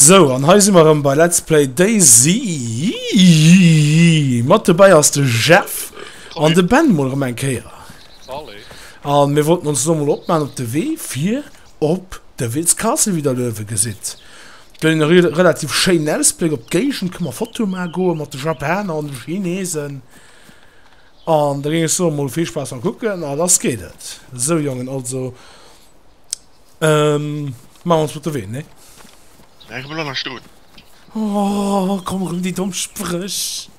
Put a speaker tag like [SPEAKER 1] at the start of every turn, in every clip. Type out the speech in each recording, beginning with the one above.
[SPEAKER 1] Sou an hei si mer erëm bei Let's Play DayZ mat dobäi ass de Jeff an de Ben mol erëm eng Kéier. Salut. An mir wollten ons elo mol opmaan op de Wee fir op de Wiltz Castle wéi der Löwe gesitt. Gëtt een e relativ schéinen Ausbléck op d'Géigend. Kënne mer Fotoe maache goe mat de Japaner an de Chinesen. An da géing ech soen, mol vill Spaass beim Kucken a lass geet et! Sou Jongen, also maache mer ons op de Wee, nee? Bleiwe mer lo nach stoen? Oh, komm erëm déi domm Spréch!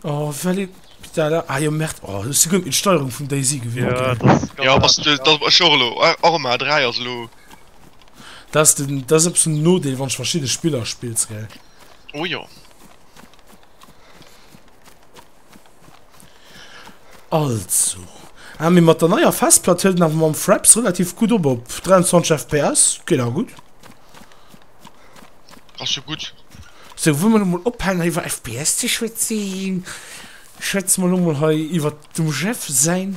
[SPEAKER 1] Oh, well ee Peter da. Ah jo, merde, oh, ech si guer net méi d'Steierung vum Daisy gewinnt, gell? Jo, ass de, da ech och elo, och ëmmer A3 ass elo. Dat ass den, dat ass e bëssen den Nodeel, wann s de verschidde Spiller spills, gell? Oh jo. Also. Ah, mir mat der neier Festplatt hëlt nach mam Fraps relativ gut op op 23 FPS. Geet a gut. Ass jo gut. So, wou mir mol ophalen iwwer FPS ze schwätzen. Schwätze mer lo mol hei iwwer dem Jeff säin.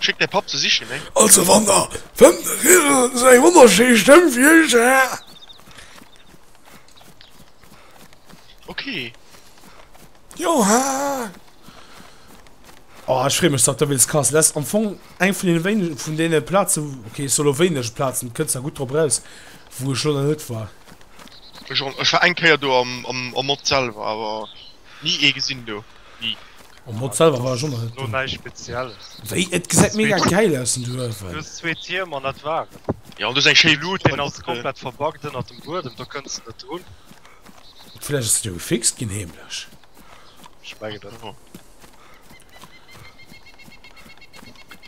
[SPEAKER 1] Schéck däi Papp ze sichen, eng. Also wann der fënnt de Riedel seng wonnerschéi Stëmm fir iech ze héieren. Ok. Johan! Oh ech free mech dat de Wiltz Castle ass am Fong eng vun den wéinegen vun den Plazen ok ech soll lo wéineg Plazen kënns der gutt drop raus wou ech lo nach net war. Ech och net, ech war eng Kéier do am am am Mod selwer awer ni ee gesinn do, ni. Oh Mod selwer war schon net no nei spezielles wéi et gesäit mega geil aus den du huewen du zwee Tier man dat war jo du seng schéi Luut den ass komplett verbackt ënner dem Buedem do kënns net drun vläch ass du gefixt ginn heemlech ech mengen dat och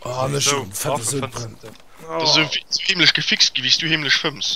[SPEAKER 1] oh mech sou fette sou brënn dat ass sou heemlech gefixt ginn wéi s du heemlech fëmms.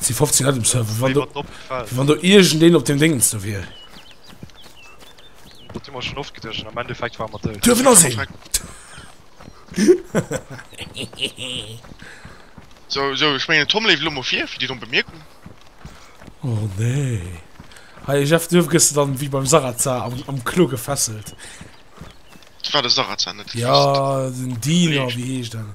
[SPEAKER 1] Si 15 net dem Server wann du wann du irgend deen op dem Ding ze wier schon oft gedschen am Endeffekt war mat Dëwen as sinn So so ech menggen Tom leeft Lommer fir fir Dir domm Bemerkung. Oh nee Hei Jeff duerf gëss du dann wéi beim Sarazar am am Klo gefesselt. Dat war de Sarazar net? Ja den Dealer wéi heescht en?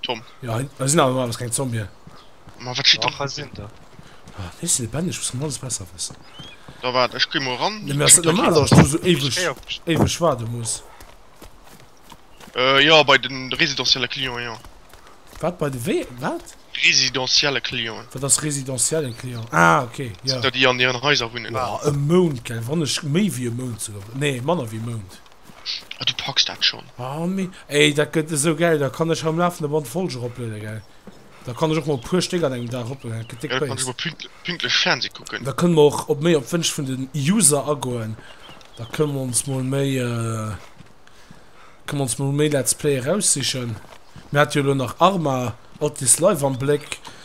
[SPEAKER 1] Tom. Ja, da sinn awer alles keng Zombien. Ma wat steet da? Ah, ech si lebendig, muss alles besser wëssen. Da waart, ech gi mol ran. Nee, mir ass net normal, dass ech do sou éiweg, éiweg waarde muss. Äh, jo, bei de residentielle Clienten, jo. Wat, bei de wee, wat? Residentielle Clienten. Wat ass residentiellen Client? Ah, ok, jo. Dat sinn der, déi an hiren Haiser wunnen. Jo, e Mount, gell, wann ech méi wéi e Mount souguer, nee, manner wéi e Mount. Ah, du packs dat schonn. Ah mee ey, dat gëtt esou gäil, da kann ech am lafende Band Folge eroplueden gell? Da kann ech och mol e puer Stéck an engem Dag eroplueden, dat gëtt déck Béis. Ja, da kann ech mol pünktlech, pünktlech Fernseh kucken. Da kënne mer och op méi op d'Wënsch vun den User agoen, da kënne mer ons mol méi, kënne mer ons mol méi Let's Play eraussichen. Mir hate jo elo nach Arma, Outlist Live am Bléck,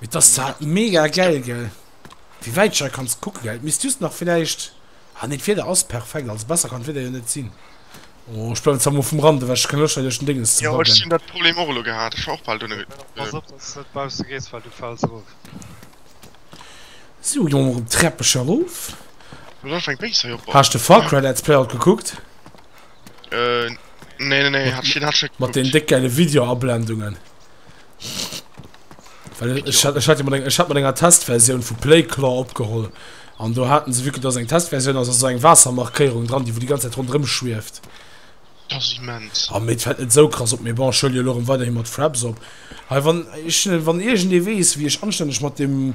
[SPEAKER 1] Mee d'ass zwar mega gäil gell wéi wäit ech hei kann kucken. Et misst just nach villäicht, ah nee d'Wieder ass perfekt, also besser kann d'Wieder jo net sinn. Oh ech bleiwen zwar mol vum Rand ewech, ech kenne Loscht hei duerch den Dénges ze baggeren. Jo ech hunn dat Problem och elo gehat, ech war och bal dono. Pass op dass s net bausse gees well du fäls erof. Sou gonge mer op d'Treppech erof. Haas de Far Cry Let's Play alt gekuckt? Mat den déck gäile Video Ablendungen. Ech hat mat enger Testversioun vu Playclaw opgeholl an do haten se wiekel ass eng Testversioun ass eso eng Waassermarkéierung dran, déi wou déi ganz Zäit ronderëm schwieft. A mee et fält net esou krass op. Mee bon, ech huele jo elo erëm weiderhi mat Fraps op. Hei wann ech, wann iergendee weess wéi ech anstänneg mat deem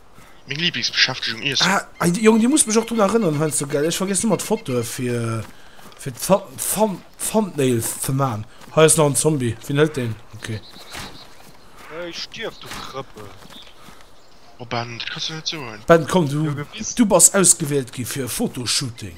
[SPEAKER 1] Meng Lieblingsbeschäftegung, Iessen. Ah, ey Jong, dir musst mech och drun erënneren heiansdo, gell? Ech vergiessen ëmmer d'Fotoe fir, fir d'Thumbnails ze man. Hei ass nach en Zombie, wien hëlt deen? Ok. Ey, stierf, du Krëppel! Oh Ben, dat kanns de net soen. Ben, komm, du bass ausgewielt gi fir e Fotoshooting.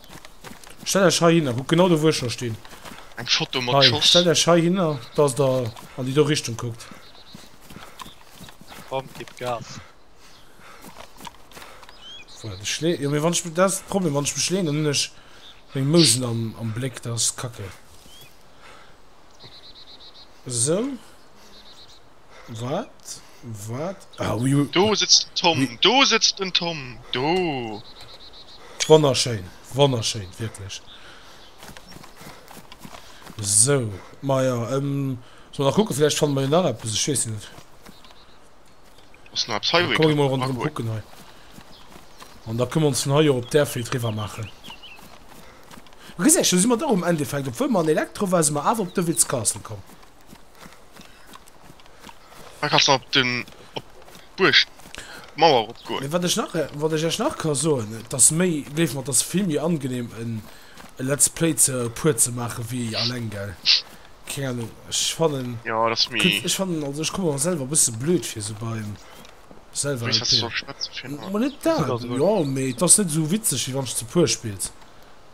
[SPEAKER 1] Stellt Äech hei hinner, kuckt genau do wou ech lo stinn. Eng Foto mat Schoss. Hei, stellt Äech hei hinner, dass der an déi do Richtung kuckt. Komm, gib Gas. Voilà, de Schlee, jo mee wann ech, dat ass de Problem, wann ech mech leen, dann hunn ech meng Mousen am, am Bléck, dat ass kacke. Esou. Wat? Wat? Ah, oui, oui. Do sëtzt den Tom, oui. Do sëtzt den Tom, do. Wonnerschéin, wonnerschéin, wierklech. So, ma ja, ähm, so nach kucke, vläicht fanne mer jo nach eppes, ech weess net. Ass nach eppes hei, wou ee kann rondrëm kucken hei. An da kënne mer ons vun hei jo op d'Airfield riwwer maachen. Gesech, do si mer dach um Endeffekt, obwuel mer an Electro waren, si mer awer op Devil's Castle komm. Da kannst du op den op d'Buerg d'Mauer eropgoen. Mee wat ech nach wat ech ech nach ka soen, et ass méi gleef mer et ass vill méi angenehm en e Let's Play ze puer ze maache wéi alleng gell. Keng Ahnung ech fannen jo et ass méi ech fannen also ech komme mer selwer e bësse blöd vir esou beim selwer LP. Mee net dat jo mee et ass net esou witzeg wéi wann s de zu puer spills.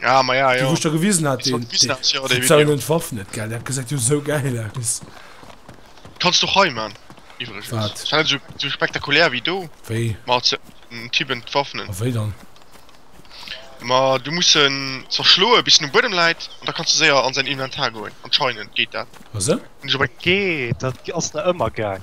[SPEAKER 1] Ja, ma ja, ja. Wo ich da gewiesen hat, den, den, ja, den Video. den Waff net geil, der hat gesagt, du so geil aus. Kannst du hei, man. Übrigens. Wat? Das war so, so spektakulär wie du. Wei? Ma, den Typen Waffen. A wei dann? Ma, du musst ihn zerschloen, bis du Bodem leid, und da kannst du sehr an sein Inventar gehen. Anscheinend geht das. Was? Okay, das ist da immer geil.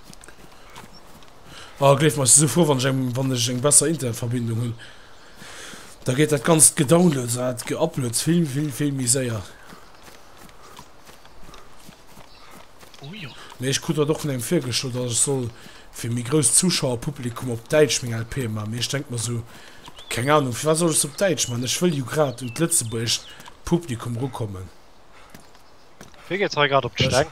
[SPEAKER 1] Ah gleef mer, ech si sou frou wann ech eng besser Internetverbindung hunn, da geet dat ganzt Gedownloads an dat Geuploads vill vill vill méi séier. Mee ech krut dat och vun engem virgeschloen, datt ech soll fir méi grousst Zuschauerpublikum op Däitsch meng LP man, mee ech denk mer sou, keng Ahnung, firwat soll ech se op Däitsch man, ech wëll jo grad un d'lëtzebuergescht Publikum rukommen. Wee geet hei grad op d'Steng?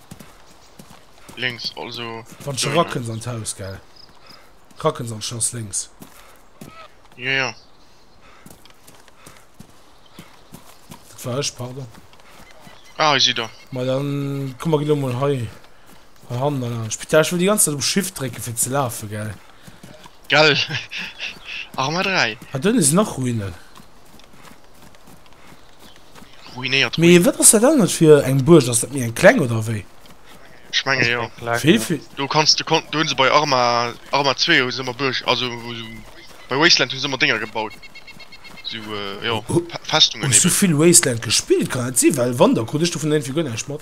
[SPEAKER 1] Links, also. Wann scho racken se an d'Haus, gell? Racken se an d'Schloss links. Ja, ja. Dat war ech, pardon. Ah, ich sehe da. Mal dann, komm mal genau mal hei. Hand an Spital. Ich will die ganze Zeit um Shift drücken, für zu laufen, gell? Gell? Arma 3. Ah dunn sinn och Ruinen. Ruinéiert Mee Ruinen. wat ass dat anert fir eng Buerg? Ass dat méi eng kleng oder wéi? Ech menge jo. Vill vill. Do kanns de do hunn se bei Arma Arma 2 hu se mer Buerg also bei Wasteland hu se mer Dénger gebaut sou jo Festungen eben. Hues du vill Wasteland gespillt? Kann dat si? Well Wonder krut ech dovun éinfir guer näischt mat.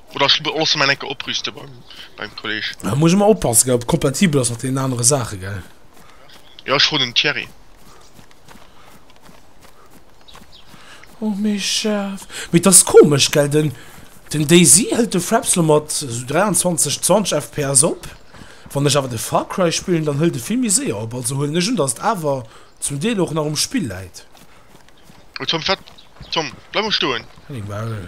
[SPEAKER 1] Oder ech loosse mäin eng Kéier oprüste beim Kolleg. Da muss ech emol oppassen, gell, ob et kompatibel ass mat deenen anere Saachen, gell? Jo, ech froen den Thierry. Oh mee scharf. Mee et ass komesch, gell, den den DayZ hëlt de Fraps lo mat esou 23, 20 FPS op. Wann ech awer de Far Cry spillen, dann hëlt e vill méi séier op. Also huelen ech un, datt et awer zum Deel och nach um Spill läit. Oh Tom, wat? Tom, bleif mol stoen! Henning, Maul!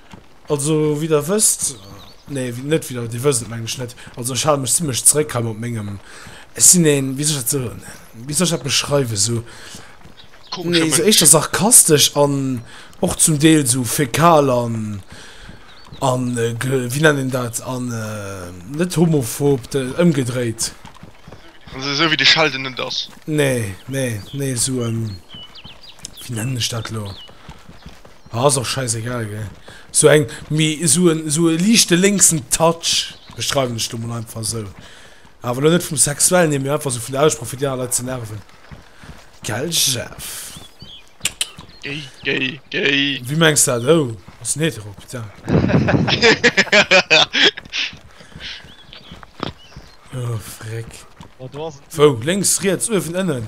[SPEAKER 1] Also wéi der wësst, nee net wéi der, dir wësst et mengen ech net, also ech hale mech zimlech zeréck hei mat mengem, ech sinn ee, wéi soll ech dat soen, wéi soll ech dat beschreiwen, esou, nee esou éischter sarkastesch an och zum Deel esou fäkal an a wéi nennt een dat an net homophob, ëmgedréit. Also esou wéi de Sheldon net ass? Nee, nee, nee esou, wéi nennen ech dat elo? Ah ass och scheiss egal gell. Sou eng mee sou en sou e liichte lénksen Touch, beschreiwen ech lo mol einfach esou, awer lo net vum sexuellen hier mee einfach sou vun der Aussprooch fir déi aner Leit ze nerven gell Jeff? Géi géi géi. Wéi mengs de dat? Oh ass en hetero, putain. Oh freck. Wou? Lénks, riets, uewen, ënnen?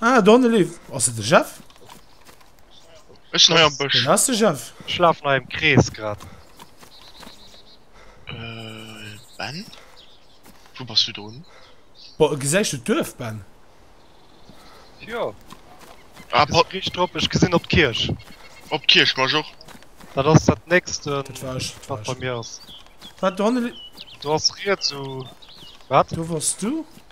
[SPEAKER 1] Ah, Donnelly, ass et de Jeff? Ech nei am Bësch. Den ass de Jeff. Schlaf nei im Krees grad. Äh, Ben? Wo bass du drun? Bo, gesäich du d'Duerf, Ben? Jo. Ah, pa Rich drop, ech gesinn op d'Kierch. Op d'Kierch, mach och. Dat ass dat nächst, äh, Dat war ech, dat war wat bei ech. mir ass. Wat, Donnelly? Do ass riets u. Wat? Do wars du?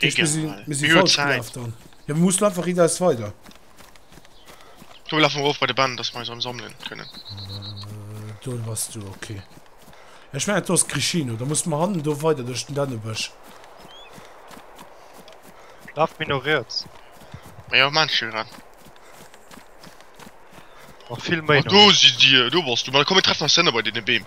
[SPEAKER 1] Mir si falsch gelaf dann. Jo mir mussen einfach rideis weider. Do lafe mer erof bei de Band, dass mer eis erëm sammelen kënnen. Do bass du, okay. Ech mengen do ass d'Crichino, da musse mer hannen do weider duerch den Dännebësch. Laf méi no riets. Ma jo, maachen ech jo grad. Nach vill méi no riets. Ah do sidd Dir, do bass du. Ma komm mir treffen eis hënne bei deene Beem.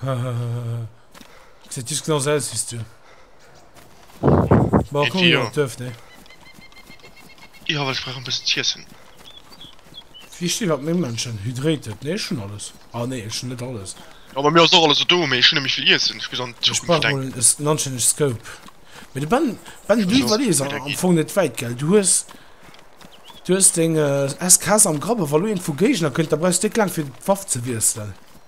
[SPEAKER 1] Hehehehe Seet just genauso aus wéis du. Bon, komm jo op d'Duerf, nee? Jo, well ech brauch e bëssen z'iessen. Wéi stinn dat meng Mënschen? Hydrated, nee ech hunn alles. Ah nee, ech hunn net alles. Jo, bei mir ass och alles do, mee ech hunn net méi vill Iessen. Ech muss an d'Zukunft denken. Ech brauch mol e Nunchain'eg Scope. Mee de Ben, Ben, du iwwerlees am Fong net wäit, gell? Du hues, du hues deng SKS am Grapp a wa elo een vu Géigner kënnt, da brauchs de net laang fir d'Waff ze wiesselen.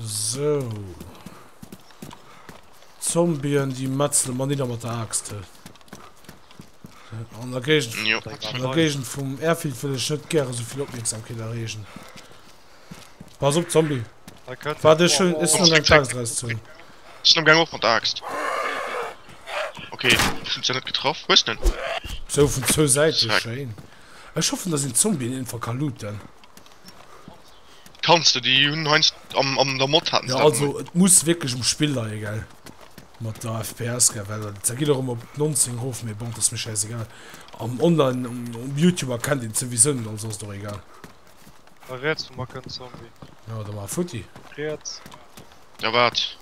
[SPEAKER 1] Sou. Zombien, déi metzele mer nidder mat der Axt. An der Géigend, ja, an der Géigend vum Airfield will ech net gäre souvill Opmierksamkeet erreegen. Pass op, Zombie. War de schon is schon eng Axt raus zu. Ist am Gang och mat der Axt. Okay, sind ja net getroffen. Wo ist denn? So vun zwou Säite, schön. Ech hoffen, dass den Zombie den Fall kann looten. Kanns de, déi hunn heiansdo am, am der Mod haten se Ja, dat also emol. et muss wierklech um Spill leie, gell, mat der FPS, gell, well da geet och ëmmer op 19 erof, mee bon, dat ass mir schäisegal. Am Online, um Youtube erkennt een et souwisou net, also ass et och egal. Hei riets vum mer kënnt Zombie. Jo, da mar futti. Riets. Ja, waart.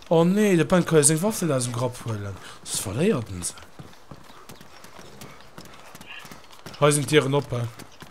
[SPEAKER 1] Oh nee, de Ben ka jo seng Waff net aus dem Grapp huelen, soss verléiert en se. Hei sinn d'Dieren op, he.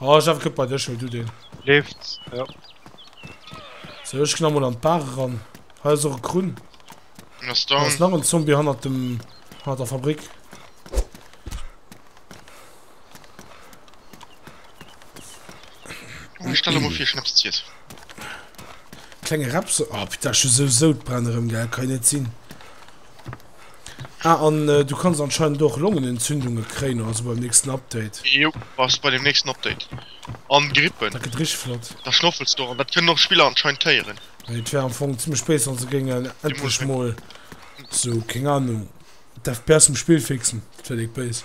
[SPEAKER 1] Oh ech awer guet bei dech mee du den. Leeft jo. Sou ech gin amol an d'Bar eran. Hei ass och e Krunn. En ass down. Ass nach en Zombie hannert dem hannert der Fabrik. Ech stelle emol fir Schnaps ze iessen. Klenge Repse, oh putain ech hu sou Soudbränn erem gell kann jo net sin. Ah an du kanns anscheinend och Longenentzündunge kréien oder sou beim nächsten Update. Jo, bass bei dem nächsten Update. An Grippe. Dat gëtt richteg flott. Da schnoffels du och an dat kënnen och Spiller anscheinend héieren. Mee et wär am Fong zimmlech béis wann se géingen endlech mol sou, keng Ahnung, d'FPS vum Spill fixen. Dat wär déck béis.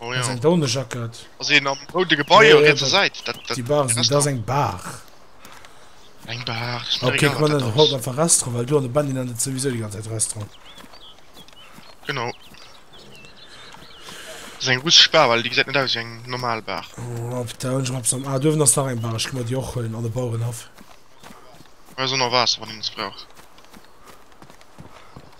[SPEAKER 1] Oh ja. Eng Daunejackett. Ass een am roude Gebai op rietser Säit? Déi Bar, dat ass eng Bar. Eng Bar? Ass mir egal wat dat ass. Op kee Fall haut einfach Restaurant, well do an de Benny nennt et souwisou déi ganz Zäit Restaurant. Genau. Dat ass eng russesch Bar, well déi gesäit net aus wéi eng normal Bar. Op der Ounjum op Sam. Ah, do uewen ass nach eng Bar, ech gi mer déi och huelen, an de Bauerenhaff. Ass ënner Waasser, wann een eppes brauch.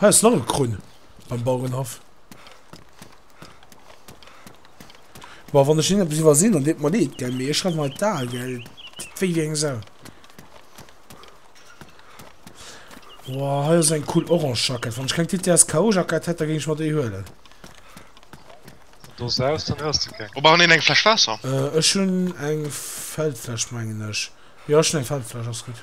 [SPEAKER 1] Hei ass nach e Krunn beim Bauerenhaff. Boah, wann ech hien eppes iwwersin, dann deet mer leed, gell, mee ech schreiwen hei d'Al, gell, deet wéi wéi eng Sau. Boah, hei ass eng cool orange Jackett. Wann ech keng TTSKO-Jackett hätt, da géing ech mer déi huelen. Dose aus, dann hues de keng. Wou brauchen een eng Fläsch Waasser? Ech hunn eng Feldfläsch, mengen ech. Jo, ech hunn eng Feldfläsch, ass gutt.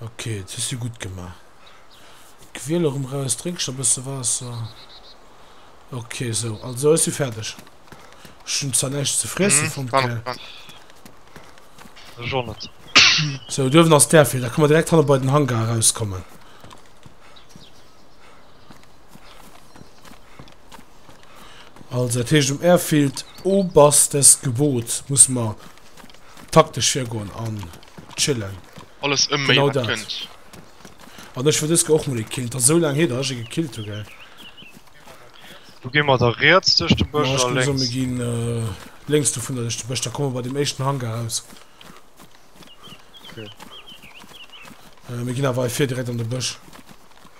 [SPEAKER 1] Okay, et hues du gutt gemaach. Quäl erëm raus, drénk scho bësse Waasser. Okay, so, also ass du fäerdeg. Ech hunn zwar näischt ze friessen fonnt, gell? Ech och net. So, duerwen ass där fir, da kann man direkt hanne bei den Hangar rauskommen. Also, dat heescht um Airfield Oberstesgebot muss man Taktesch virgoen an chillen. Alles ëm méi wat kënnt. An ech wëll dës Ke och mol ee killen. Et ass esou laang hier dat ech ee gekillt hu gell. Do gi mer da riets duerch de Bësch a lénks. Mir ginn lénks dovunner duerch de Bësch. Da komme mer bei deem éischten Hangar aus. Mir ginn awer hei vir direkt an de Bësch.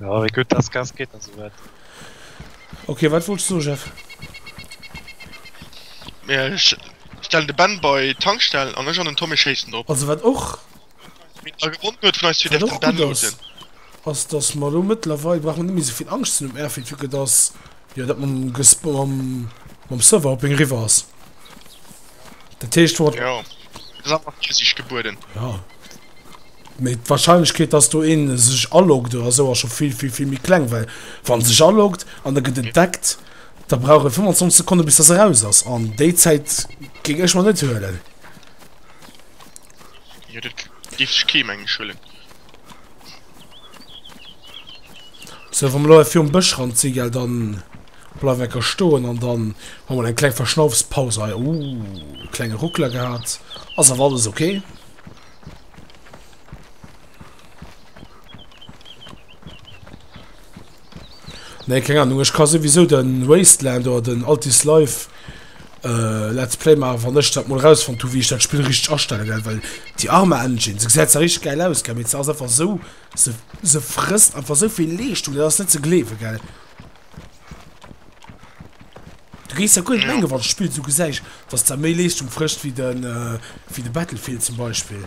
[SPEAKER 1] Ja, wéi gutt das Gas geht also weit. Okay, wat wolltest du, Chef? Mir sch- stellen de Ben bei Tankstellen an ech an den Tommy schéissen drop. Also wat och A gewonnen huet vun eis zwee wat däerf och den Ben gut ass, losen. ass dass mer lo mëttlerweil brauch mer net méi souvill Angscht ze hunn um Airfield, vu que dass Jo dat mam mam Serverhopping eriwwer ass. Dat heescht wat. Jo ass einfach Virsiicht gebueden. Jo mee d'Warscheinlechkeet dass do een sech aloggt oder esou ass scho vill vill vill méi kleng well wann sech aloggt an der gëtt entdeckt da brauch e 25 Sekonne bis dass e raus ass an déi Zäit géing ech mer net huelen. Jo dat géif sech kee mengen ech huelen. So, wann mer elo virum Bëschrand sinn, gell, dann bleiwen wir stoen an dann hu mer eng kleng Verschnaufspaus hei. Uh, klenge Ruckler gehabt. Ass awer alles okay. Nee keng Ahnung, ech ka souwisou den Wasteland oder den Alt is Life Let's Play maachen wann ech dat mol rausfonnt hu wéi ech dat Spill richteg astelle gell, well déi Arma Engine se gesäit zwar richteg gäil aus gell, mee se ass einfach sou se se frësst einfach souvill Leeschtung dat ass net ze gleewe gell. Du géiss jo guer net mengen wann d'Spill sou gesäich dass dat méi Leeschtung frëscht wéi de wéi de Battlefield zum Beispill.